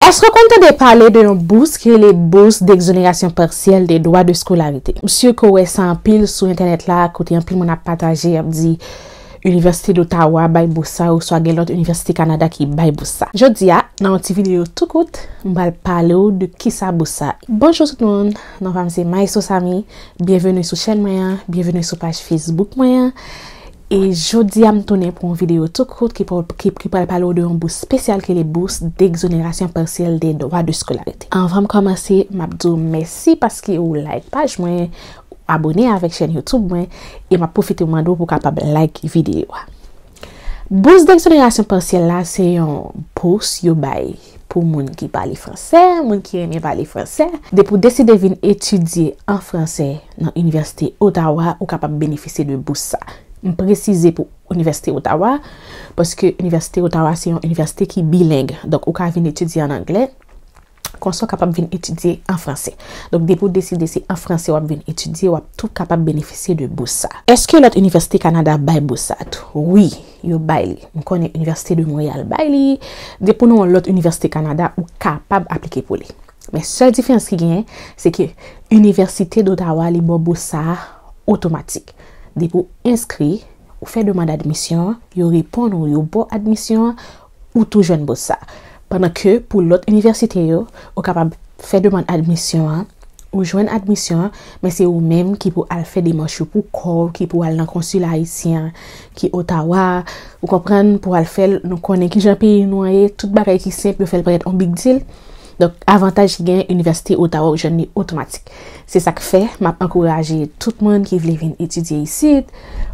Èske w konn tande pale de yon bous ki rele Bourse d'exonération partielle des droits de scolarité? M sur ke w wè sa anpil sou entènèt la kote anpil moun ap pataje y ap di Université d'Ottawa bay bous sa oswa gen lòt Université Canada ki bay bous sa. Jodi a, nan yon ti videyo tou kout, m pral pale w de kisa bous sa ye. Bonjou tout moun, non pa m se Maestro Samy, byenveni sou chèn mwen an, byenveni sou paj Facebook mwen an. E jodia m tounen pou yon video tou kout ki pral pale w de yon bous spesyal ki rele bous degzonerasyon pasyèl de dwa de skolarite. Anvan m kòmanse m ap di w mèsi paske ou like paj mwen, ou abone avèk chèn youtube mwen e m ap pwofite mande w pou w kapab like video a. Bous degzonerasyon pasyèl la se yon bous yo bay pou moun ki pale fransè, moun ki renmen pale fransè, depi w deside vin etidye an fransè, Nan Inivèsite Ottawa ou kapab benefisye de bous sa. M presize pou Inivèsite Ottawa, paske Inivèsite Ottawa se yon inivèsite ki bileng. Donk ou ka vin etidye an anglè, konsa w kapab vin etidye an franse. Donk depi w deside se an franse w ap vin etidye, w ap tou kapab benefisye de bous sa. Eske lòt inivèsite Kanada bay bous sa tou? Wi, yo bay li. M konnen Inivèsite de Monreyal bay li. Depi w nan yon lòt inivèsite Kanada, ou kapab aplike pou li. Men sèl diferans ki genyen, se ke Inivèsite Dotawa li ba w bous sa a otomatik. Depi w enskri, ou fè demand admisyon an, yo reponn ou, yo ba w admisyon an, ou tou jwenn bous sa a. Pandan ke pou lòt inivèsite yo, ou kapab fè demand admisyon an, ou jwenn admisyon an, men se ou menm ki pou al fè demach yo pou kò w, ki pou al nan konsila ayisyen an ki Otawa, ou konprann, pou al fè l, nou konnen kijan peyi nou an ye, tout bagay ki senp yo fè l parèt on big deal. Donk, avantaj ki genyen Inivèsite Ottawa ou jwenn li otomatik. Se sa k fè, m ap ankouraje tout moun ki vle vin etidye isit,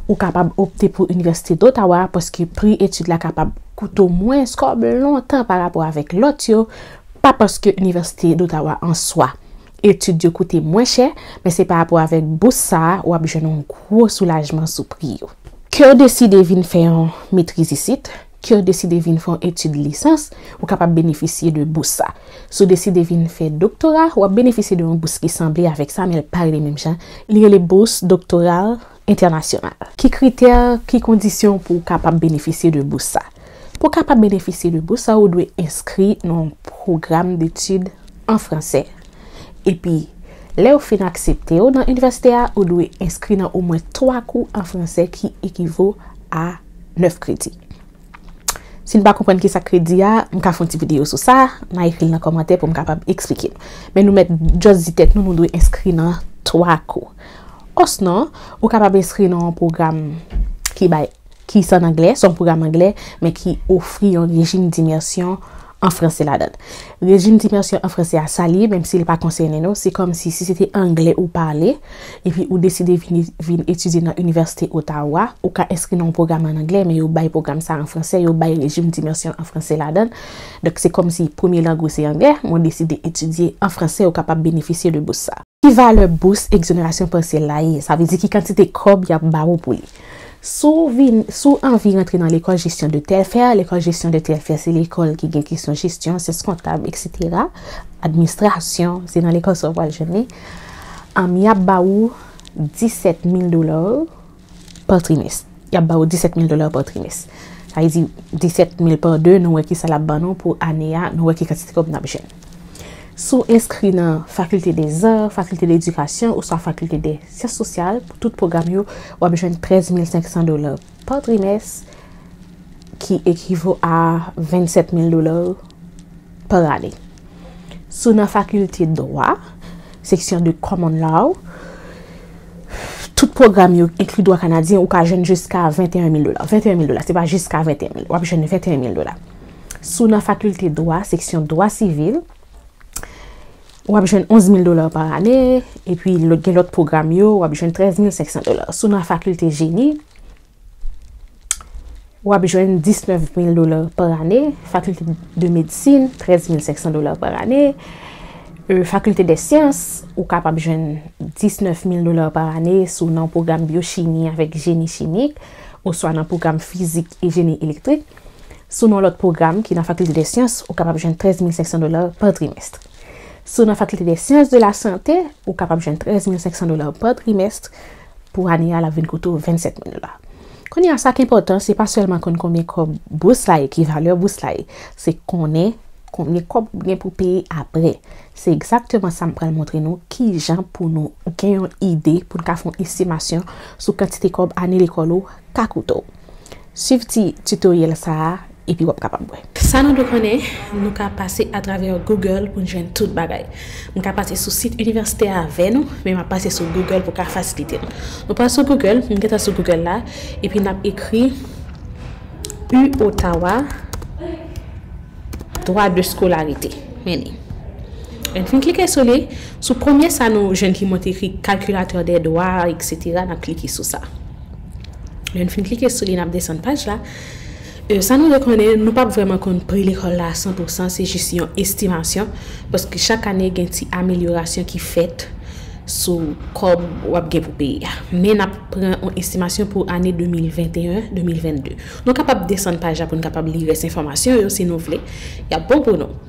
ou kapab opte pou Inivèsite d'Ottawa paske pri etid la kapab koute w mwens kòb lontan pa rapò avèk lòt yo, pa paske Inivèsite d'Ottawa an swa, etid yo koute mwen chè, men se pa rapò avèk bous sa a, w ap jwenn yon gwo soulajman sou pri yo. Ke w deside vin fè yon metriz isit, Ke w deside vin fè yon etid lisans, ou kapab benefisye de bous sa. Si w deside vin fè doktora, w ap benefisye de yon bous ki sanble avèk sa men l pa rele menm jan, li rele Bourse Doctorale Internationale. Ki kritè, ki kondisyon pou w kapab benefisye de bous sa? Pou w kapab benefisye de bous sa ou dwe enskri nan yon pwogram detid an fransè. Epi, lè yo fin aksepte w nan inivèsite a, ou dwe enskri nan omwen 3 kou an fransè ki ekivo a. 9 kredi. Si n pa konprann kisa kredi a, m ka fè yon ti videyo sou sa, n a ekri l nan kòmantè pou m kapab eksplike nou. Men nou mèt just di tèt nou nou dwe enskri nan 3 kou. Osnon, ou kapab enskri nan yon pwogram ki bay, ki san anglè, son pwogram anglè, men ki ofri yon rejim dimersyon an franse ladan. Rejim d'imersyon an franse a salye menm si li pa konsène nou, se kòm si si se te angle ou pale epi ou deside vini vin etidye nan Inivèsite Ottawa, ou ka enskri nan yon pwogram an angle men yo bay pwogram sa an franse, yo bay rejim d'imersyon an franse ladan. Donk se kòm si premye lang ou se angle men ou deside etidye an franse ou kapab benefisye de bous sa. Ki valè bous egzonerasyon pasyèl la ye? Sa vle di ki kantite kòb y ap ba ou pou li? Si w vin, si w anvi rantre nan lekòl jesyon de tèl fè, lekòl jesyon de tèl fè se lekòl ki gen kesyon jesyon, syans kontab eksetera, administrasyon, se nan lekòl sa w pral jwenn li, y ap ba ou 17 mil dola. pa trimès. Y ap ba ou 17 mil dola pa trimès. Sa vle di 17 mil pa 2, nou wè ki sa l ap ban nou pou ane a, nou wè ki kantite kòb n ap jwenn. Si w enskri nan Fakilte Deza, Fakilte Ledikasyon oswa Fakilte de Syans Sosyal, pou tout pwogram yo, w ap jwenn 13 mil 500 dola pa trimès ki ekivo a 27 mil dola. par ane. Si w nan fakilte dwa, seksyon de Common Law, tout pwogram yo enkli dwa kanadyen, ou ka jwenn jiska 21 mil dola. 21 mil dola, se pa jiska 21 mil. W ap jwenn 21 mil dola. Si w nan fakilte dwa, seksyon dwa sivil, w ap jwenn 11 mil dola par ane, epi gen lòt pwogram yo, w ap jwenn 13 mil 500 dola. Si w nan fakilte jeni, w ap jwenn 19 mil dola pa ane, fakilte de medsin 13 mil 500 dola pa ane, fakilte dè syans ou kapab jwenn 19 mil dola pa ane si w nan pwogram byochimi avèk jeni chimik oswa nan pwogram fizik e jeni elektrik. Si w nan lòt pwogram ki nan fakilte dè syans ou kapab jwenn 13 mil 500 dola pa trimèst. Si w nan fakilte dè syans de la sante ou kapab jwenn 13 mil 500 dola pa trimèst. Pou ane a l ap vin koute w 27 mil dola. Kounye a, sa k enpòtan se pa sèlman konn konbyen kòb bous la ye, ki valè bous la ye, se konnen konbyen kòb ou gen pou peye apre. Se egzakteman sa m pral montre nou ki jan pou nou gen yon ide pou n ka fè yon estimasyon sou kantite kòb ane lekòl ou ka koute w. Swiv ti tutoriel sa a epi wap kapab wè. Sa nou dwe konnen, Nou ka pase atravè Google pou n jwenn tout bagay. M ka pase sou sit inivèsite a avè nou, men map pase sou Google pou ka fasilite n. Nou pral sou Google, m gentan sou Google la, epi nap ekri U Ottawa Droit de scolarité. Men li. Lè n fin klike sou li, sou premye sa nou jwenn ki montre ekri Calculateur des droits etc. Nap klike sou sa. Lè n fin klike sou li n ap desann paj la. Sa nou dwe konnen, nou pap vrèman konn pri lekòl la a san pou san, se jis yon estimasyon, paske chak ane gen ti amelyorasyon ki fèt sou kòb w ap gen pou peye a. Men n ap pran yon estimasyon pou ane 2021, 2022. Nou kapab desann paj la pou n kapab li rès enfòmasyon yo si nou vle. Y ap bon pou nou.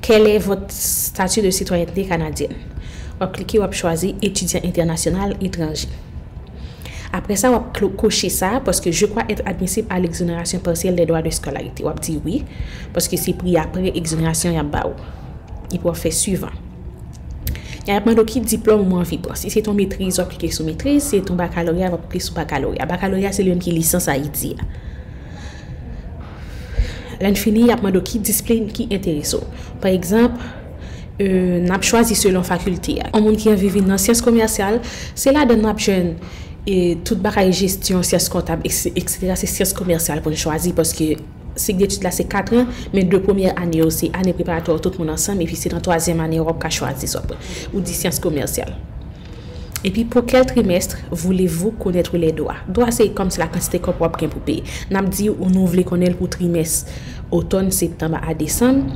Quel est votre statut de citoyenneté canadienne? Wap klike wap chwazi Étudiant international étranger. Aprè sa wap koche sa paske je crois être admissible à l'exonération partielle des droits de scolarité. Wap di wi paske se pri aprè exonération yap ba ou. Epi wap fè suivant. Ya yap mande w ki diplòm ou anvi pran. Si se ton metriz wap klike sou metriz, si se ton bakaloreya wap klike sou bakaloreya. Bakaloreya se li menm ki lisans Ayiti a. Lè n fini, y ap mande w ki disiplin ki enterese w. Pa egzanp, n ap chwazi selon fakilte a. Yon moun ki anvi vin nan syans komèsyal, se ladan l n ap jwenn tout bagay jesyon, syans kontab, eksetera. Se syans komèsyal pou n chwazi paske sik detid la se katran, men de premyè ane yo se ane preparatwa tout moun ansanm epi se nan twazyèm ane a w ap ka chwazi. Ou di syans komèsyal. Epi pou kel trimestre voulez vous connaitre les droits? Dwa se kòm se la kantite kòb wap gen pou peye. Nap di ou nou vle konnenl pou trimès otòn, septanb a desanm,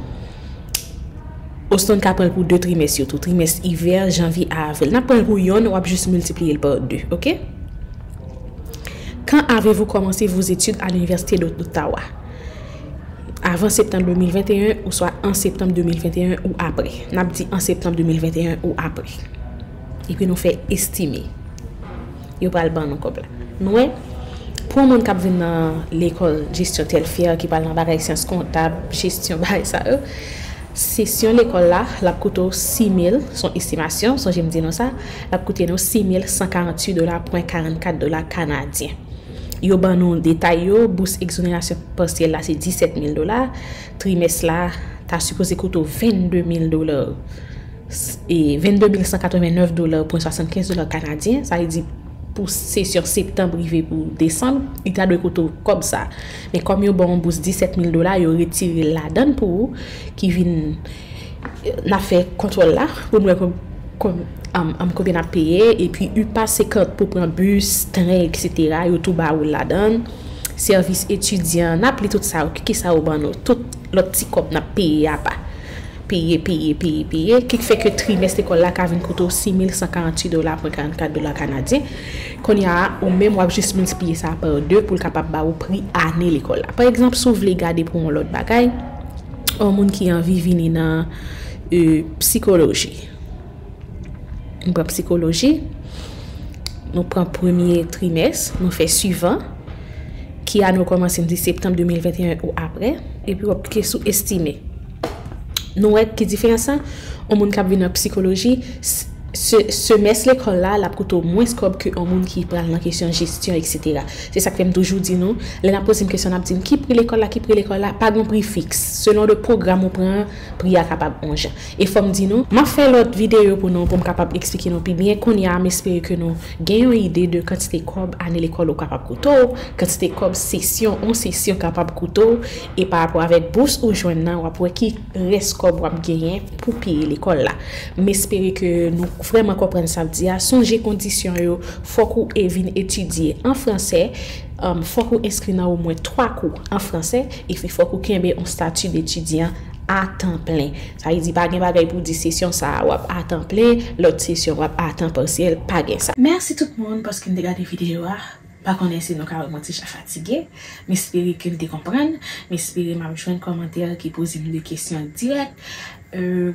osnon n ka pranl pou 2 trimès yo tou, trimès ivè, janvye a avril. Nap pranl pou yonn, wap jis miltipliyel par 2. Ok. Quand avez-vous commencé vos études à l'université d'Ottawa? avan septanm 2021 oswa an septanm 2021 ou apre. N ap di an septanm 2021 ou apre. Epi nou fè estime. Yo pral ban nou kòb la. Nou wè? Pou yon moun k ap vin nan lekòl jesyon Telfair, ki pral nan bagay syans kontab, jesyon, bagay sa yo, sesyon lekòl la, l ap koute w 6 mil, s on estimasyon, sonje m di nou sa, l ap koute nou 6 mil 148 dola pwen 44 dola kanadyen. Yo ban nou detay yo, bous egzonerasyon pasyèl la se 17 mil dola, trimès la ta sipoze koute w 22 mil dola, 22 mil 189 dola pwen 75 dola kanadyen, sa vle di pou sesyon septanb rive pou desanb, li ta dwe koute w kòb sa. Men kòm yo ba w yon bous 17 mil dola, yo retire l ladan l pou ou, ki vin. N ap fè kontwòl la pou n wè konbyen n ap peye. Epi upa se kant pou pran bis, tren eksetera yo tou ba ou l ladan l. Sèvis etidyan n ap li tout sa yo ki sa yo ban nou. Tout lòt ti kòb n ap peye apa. Peye, peye, peye, peye. Ki fè ke trimès lekòl la ka vin koute w 6148 dola pwen 44 dola kanadyen. Kounye a ou menm w ap jis miltipliye sa pa 2 pou l kapab ba ou pri ane lekòl la. Pa egzanp si w vle gade pou yon lòt bagay. Ou moun ki anvi vini nan psikoloji. Nou pran psikoloji, nou pran premye trimès, nou fè suivan, ki a nou komanse m di septanm 2021 ou apre, epi wap klike sou estime. Nou wè ki diferans sa, ou moun kap vin nan psikoloji, Semès lekòl la, l ap koute w mwens kòb ke yon moun ki pral nan kesyon jesyon eksetera. Se sa k fè m toujou di nou, lè n ap poze m kesyon n ap di m ki pri lekòl la, ki pri lekòl la, pa gen yon pri fiks. Selon de pwogram ou pran an, pri a kapab yon jan. E fò m di nou. M ap fè lòt videyo pou nou pou m kapab eksplike nou pi byen. Kounye a, m espere ke nou gen yon ide de kantite kòb ane lekòl ou kapab koute w, kantite kòb sesyon yon sesyon kapab koute w, e parapò avèk bous ou jwenn nan, w ap wè ki. rès kòb wap genyen pou peye lekòl la. M espere ke nou vrèman konprann sa m di a, sonje kondisyon yo, fòk ou e vin etidye an fransè, fòk ou enskri nan omwen 3 kou an fransè, epi fòk ou kenbe on stati detidyan a tan plen. Sa vle di pa gen bagay pou w di sesyon sa a wap a tan plen, lòt sesyon wap a tan pasyèl, pa gen sa. Mèsi tout moun paske n te gade videyo a. Pa konnen si nou ka wè m antijan fatige. M espere ke n te konprann. M espere m ap jwenn kòmantè ki poze m de kesyon dirèk.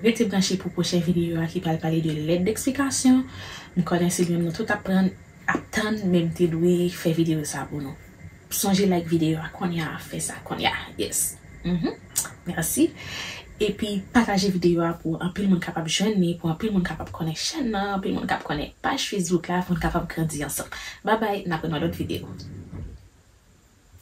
Rete branche pou pwochen videyo a ki pral pale de lèt deksplikasyon. M konnen se li menm nou tout ap pran ap tann men m te dwe fè videyo sa pou nou. Sonje like videyo a kounye a, fè sa kounye a. Yes. Merci epi pataje video a pou anpil moun kapab jwenn li pou anpil moun kapab konnen chèn nan anpil moun kap konnen paj Facebook la poun kapab grandi ansanm babay nap wè nan lòt video.